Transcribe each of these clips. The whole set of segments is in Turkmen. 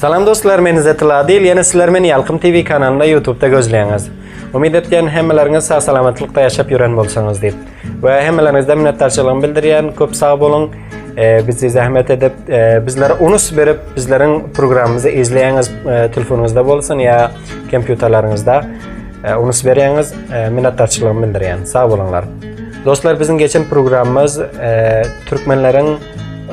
Salam dostlar men Izzet Ladil ýene sizler meni Ýalkym TV kanalynda ýutubda gözleýäňiz. Umyt etýän hemmeleriňiz sag salamatlykda ýaşap ýören bolsaňyz diýip. We hemmeleriňizden minnetdarçylygymy bildirýän köp sag boluň. Bizi zähmet edip bizlere unus berip bizleriň programymyzy izleýäňiz telefonyňyzda bolsun ýa kompýuterleriňizde unus berýäňiz minnetdarçylygymy bildirýän. Sag boluňlar. Dostlar biziň geçen programmaz e, türkmenleriň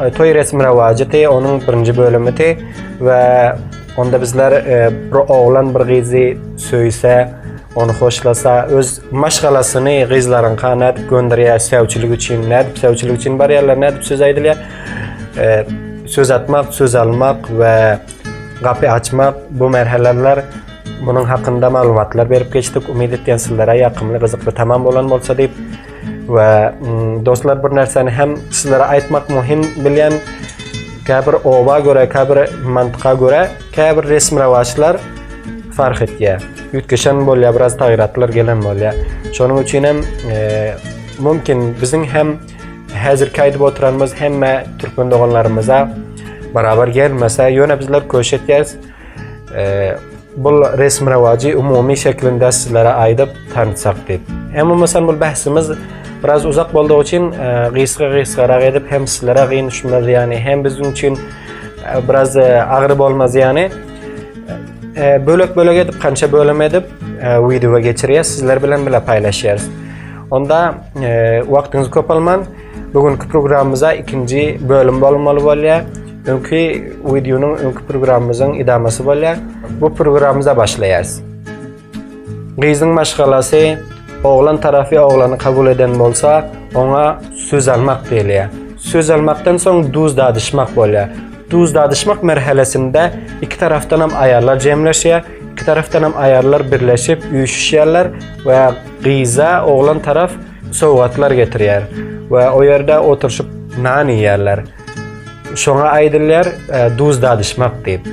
e, toý resmi rawajaty, onuň birinji bölümidi we onda bizler e, bir oglan bir gyzy söýse, ony hoşlasa, öz maşgalasyny gyzlaryň kanat gönderýär söýçilik üçin, nädip söýçilik üçin barýarlar, nädip söz aýdylýar. E, söz atmak, söz almak we Gapy açmak, bu merheleler munuň hakynda maglumatlar berip geçdik. Umyt etýän sizlere ýakymly, gyzykly tamam bolan bolsa diýip we dostlar bir närseni hem sizlere aýtmak muhim bilýän käbir oba görä, käbir mantyka görä, käbir resmi rawaçlar fark etýär. Üýtgeşen bolýar, biraz taýyratlar gelen bolýar. Şonuň üçin hem mümkin biziň hem Häzirki aýdyp oturanymyz hemme türkmen doganlarymyza barabar gelmese, ýöne bizler köş etýäris. Bul resmi-rewajy umumy şeklinde sizlere aýdyp tanşsak diýip. Emma mysal bul bähsimiz biraz uzak boldugy üçin gysga-gysgarak edip hem sizlere gyn düşmez ýany, hem biziň üçin biraz agyr bolmaz ýany. Bölek-bölek edip, kança bölüm edip wideoa geçirýäs, sizler bilen bile paýlaşýarys. Onda wagtyňyzy köp alman, bu günki programmamyza ikinji bölüm bolmaly bolýar. Öňki wideonyň, öňki programmamyzyň idamasy bolýar. Bu programmamyza başlaýarys. Gyzyň maşgalasy oglan tarapy oglany kabul eden bolsa, oňa söz almak diýilýär. Söz almakdan soň duz dadyşmak bolýar. Duz dadyşmak merhelesinde iki tarapdan hem aýallar jemleşýär. Iki tarafdan hem aýallar birleşip üýşüşýärler we gyza oglan taraf sowgatlar getirýär we o ýerde oturyşyp nan iýýärler. Şoňa aýdylýar e, duz dadyşmak diýip.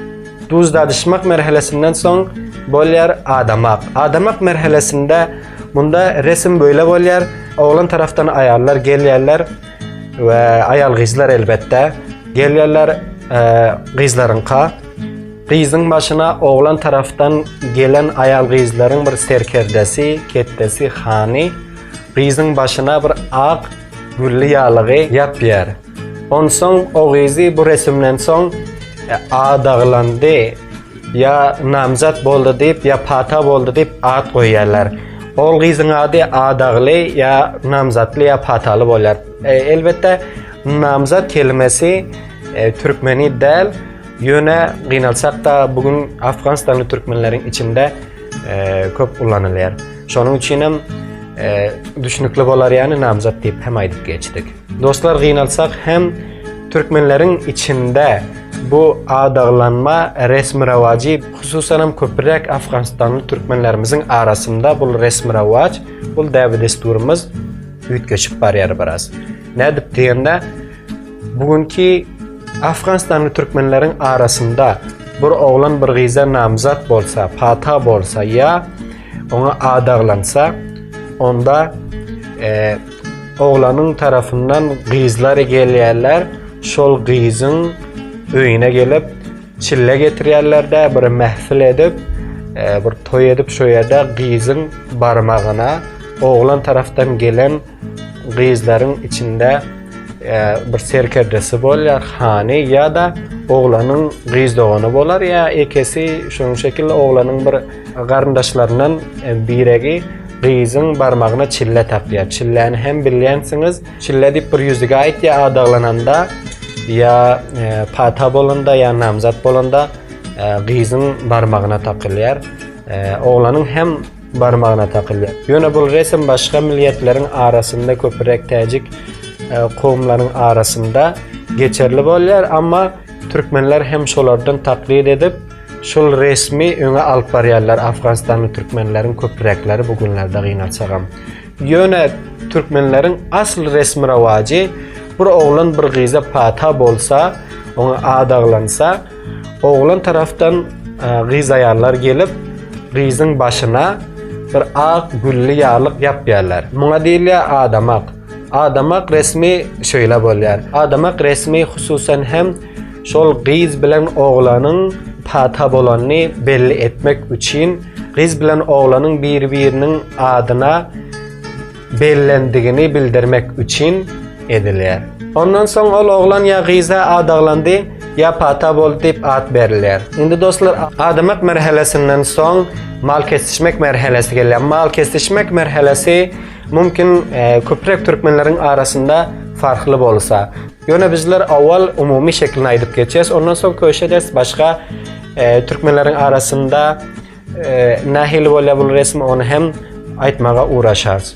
Duz dadyşmak merhelesinden soň bolýar adamak. Adamak merhelesinde munda resim böyle bolýar. Oglan tarafdan aýallar gelýärler we aýal gyzlar elbetde gelýärler e, gyzlaryňka. Gyzyň başyna oglan tarafdan gelen aýal-gyzlaryň bir serkerdesi, ketdesi, hany, gyzyň başyna bir ak gülli ýalygy ýapýar. Onsoň o gyzy bu resimden soň adaglandy ýa namzat boldy diýip ýa pata boldy diýip at goýýarlar. Ogul gyzyň ady adagly ýa namzatly ýa pataly bolýar. Elbetde namzat kelimesi türkmeni däl. Ýöne gynalsak-da, bu gün afganistanly türkmenleriň içinde köp ulanylýar. Şonuň üçin hem düşünikli bolar ýany namzat diýip hem aýdyp geçdik. Dostlar gynalsak hem türkmenleriň içinde bu adaglanma resmi rawajy hususan hem köpräk afganistanly türkmenlerimiziň arasynda bu resmi rawaj, bu däbi-dessurymyz üýtgeşip barýar biraz. Nädip diýende, Bu günki Afganistanly türkmenleriň arasynda bir oglan bir gyza namzat bolsa, pata bolsa ýa oňa adaglansa, onda e, oglanyň tarafyndan gyzlar gelýärler, şol gyzyň öýüne gelip çille getirýärler-de, bir mähfil edip, e, bir toý edip, şo ýerde gyzyň barmagyna oglan tarafdan gelen gyzlaryň içinde bir serkerdesi bolýar, hany ýa-da oglanyň gyz dogany bolar ýa ekesi şonuň şekilli oglanyň bir garyndaşlaryndan biregi gyzyň barmagyna çille tapýar. Çilläni hem bilýänsiňiz, çille diýip bir ýüzüge aýtýar adaglananda ýa pata bolanda ýa namzat bolanda gyzyň barmagyna takylýar. Oglanyň hem barmagyna takylýar. Ýöne bul resm başga milliýetleriň arasynda köpüräk täjik kowumlaryň arasynda geçerli bolýar, amma türkmenler hem şolardan taklyt edip, şul resmi öňe alyp barýarlar, afganistanly türkmenleriň köpüräkleri bu günlerde gynansagam. Ýöne türkmenleriň asl resmi rowajy bir oglan bir gyza pata bolsa, oňa ad aglansa, Oglan tarafdan gyz aýallar gelip, gyzyň başyna bir ak gülli ýaglyk ýapýarlar. Muňa diýilýär adamak. Adamak resmi şeýle bolýar. Adamak resmi hususan hem şol gyz bilen oglanyň pata bolanyny belli etmek üçin gyz bilen oglanyň biri-biriniň adyna bellendigini bildirmek üçin edilýär. Ondan soň ol oglan ýa gyza adaglandy, ýa pata boldy diýip at berilýär. Indi dostlar, adamak merhelesinden soň mal kesişmek merhelesi gelýär. Mal kesişmek merhelesi mümkin e, köpräk türkmenleriň arasynda farkly bolsa. Ýöne bizler awal umumy şeklini aýdyp geçýäs, ondan soň köşe ders başga e, türkmenleriň arasynda Nähili bolýar bul resim, ony hem aýtmaga ugraşarys.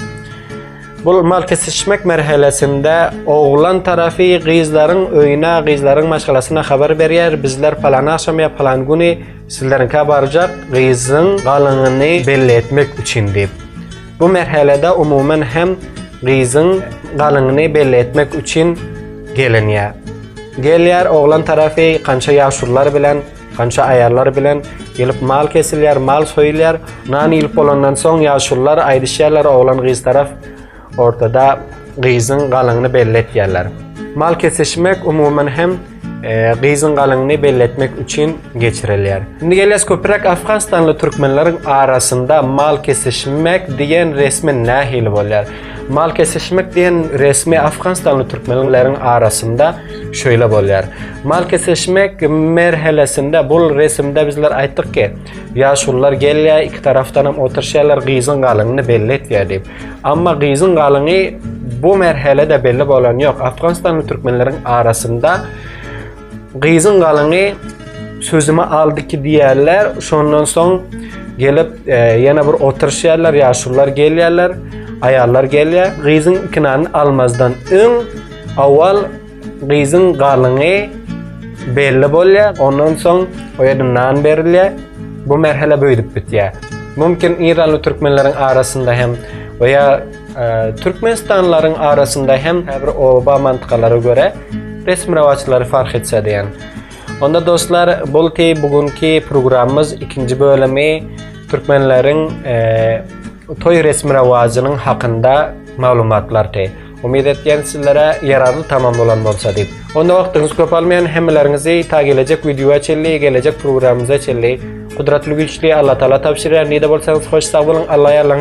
Bul mal kesişmek merhelesinde oglan tarafy gyzlaryň öýüne, gyzlaryň maşgalasyna habar berýär, bizler palan agşam ýa palan güni sizleriňkä barjak, gyzyň galyňyny belli etmek üçin diýip. Bu merhelede umuman hem gyzyň galyňyny belli etmek üçin gelinýär. Gelýär oglan tarafy kança ýaşulylar bilen Kança aýallar bilen gelip mal kesilýär, mal soýulýar. Nan iýlip bolandan soň ýaşulylar aýdyşýarlar, oglan-gyz tarap ortada gyzyň galyňyny belli etýärler. Mal kesişmek umuman hem gyzyň galyňyny belli etmek üçin geçirilýär. Indi gelýäs köpräk afganstanly türkmenleriň arasynda mal kesişmek diýen resmi nähili bolýar? Mal kesişmek diýen resmi afganistanly türkmenleriň arasynda şöyle bolýar. Mal kesişmek merhelesinde bul resimde bizler aýtdyk ki, ýaşulular gelýär, iki tarafdan hem oturşýarlar, gyzyň galynyny belli etýär diýip. Amma gyzyň galyny bu merhelede belli bolan ýok. Afganistanly türkmenleriň arasynda Gyzyň galyňy sözümi aldy ki diýerler. Şondan soň gelip e, ýene bir oturşýarlar, ýaşulylar gelýärler, aýallar gelýär. Gyzyň ikinany almazdan öň awal gyzyň galyňy belli bolýar. Ondan soň o ýerde nan berilýär. Bu merhele böýdüp bitýär. Mümkin İranly türkmenleriň arasynda hem we ýa Türkmenistanlylaryň arasynda hem käbir oba mantgalara görä resmi rowaçlary fark etse diýen. Onda dostlar, bolty bu günki programmyz ikinji bölümi türkmenleriň toý resmi rowaçynyň hakynda maglumatlardy. Umyt etýän sizlere ýararly tamam bolan bolsa diýip. Onda wagtyňyzy köp almaýan hemmeleriňizi ta gelejek wideoa çenli, gelejek programmyza çenli Gudratly Güýçli Allatagala tabşyrýan. Nide bolsaňyz hoş sag boluň, Alla ýarlaň.